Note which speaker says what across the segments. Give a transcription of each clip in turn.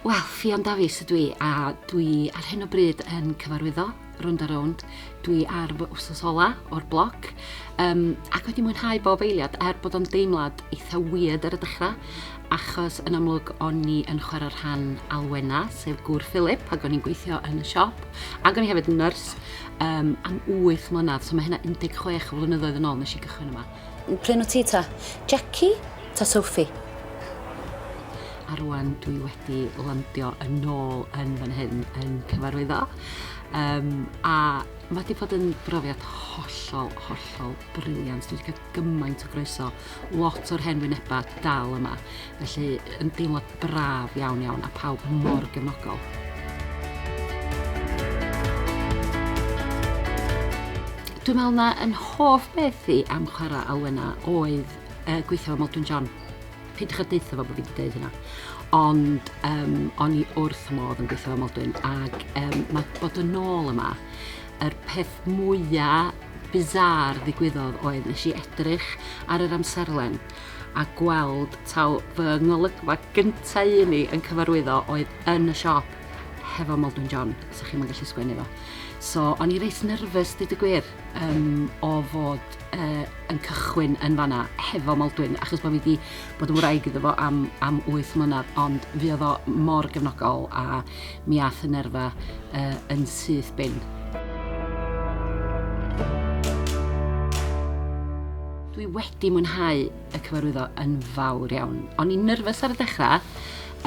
Speaker 1: Wel, Ffion Dafis ydw i a dwi ar hyn o bryd yn cyfarwyddo Rownd a Rownd. Dwi ar fy wsos ola o'r bloc um, ac wedi mwynhau bob eiliad er bod o'n deimlad eitha weird ar y dechrau achos yn amlwg o'n ni yn chwarae rhan Alwena, sef gŵr Philip, ac o'n i'n gweithio yn y siop ac o'n i hefyd yn nyrs um, am 8 mlynedd, so mae hynna 16 o flynyddoedd yn ôl nes i gychwyn yma. Pryn o ti ta?
Speaker 2: Jackie ta Sophie?
Speaker 1: A rwan dwi wedi landio yn ôl yn fan hyn yn cyfarwyddo. Um, a mae wedi bod yn brofiad hollol, hollol briliant. Dwi wedi cael gymaint o groeso, lot o'r hen wynebau dal yma. Felly, yn deimlo braf iawn iawn a pawb mor gefnogol. Dwi'n meddwl na yn hoff beth i am chwarae Alwena oedd uh, gweithio fo Modwyn John. Pidwch a deutha fo bod fi wedi dweud hynna. Ond um, o'n i wrth y modd yn gweithio fo Modwyn ac um, mae bod yn ôl yma yr peth mwyaf bizar ddigwyddodd oedd nes i edrych ar yr amserlen a gweld taw fy ngolygfa gynta i un i yn cyfarwyddo oedd yn y siop hefo Maldwyn John, sa chi'm yn gallu sgwennu fo. So, o'n i reit nerfus, dweud y gwir, um, o fod uh, yn cychwyn yn fanna hefo Maldwyn, achos bod fi wedi bod yn wraig iddo fo am, am 8 mlynedd, ond fi oedd o mor gefnogol a mi ath y nerfa uh, yn syth bin. Dwi wedi mwynhau y cyfarwyddo yn fawr iawn. O'n i'n nyrfys ar y dechrau,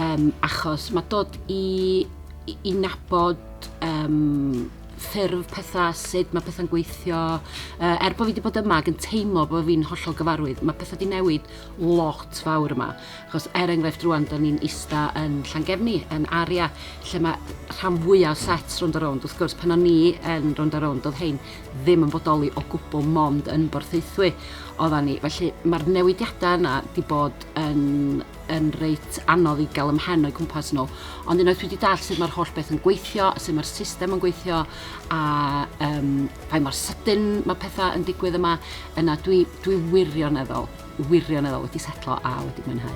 Speaker 1: um, achos mae dod i, i, i nabod um, ffurf pethau, sut mae pethau'n gweithio. Uh, er bod fi wedi bod yma ac yn teimlo bod fi'n hollol gyfarwydd, mae pethau wedi newid lot fawr yma. Achos er enghraifft rwan, da ni'n ista yn Llangefni, yn Aria, lle mae rhan fwyaf o sets rownd a rownd. Wrth gwrs, pan o'n ni yn rownd a rownd, doedd hein ddim yn bodoli o gwbl mond yn Borthaethwy oeddan ni. Felly mae'r newidiadau yna di bod yn, yn reit anodd i gael ymhen o'i cwmpas nhw. Ond unwaith dwi wedi dall sut mae'r holl beth yn gweithio, sut mae'r system yn gweithio, a um, pa mor sydyn mae pethau yn digwydd yma, yna dwi, dwi wirioneddol wirioneddol wedi setlo a wedi mwynhau.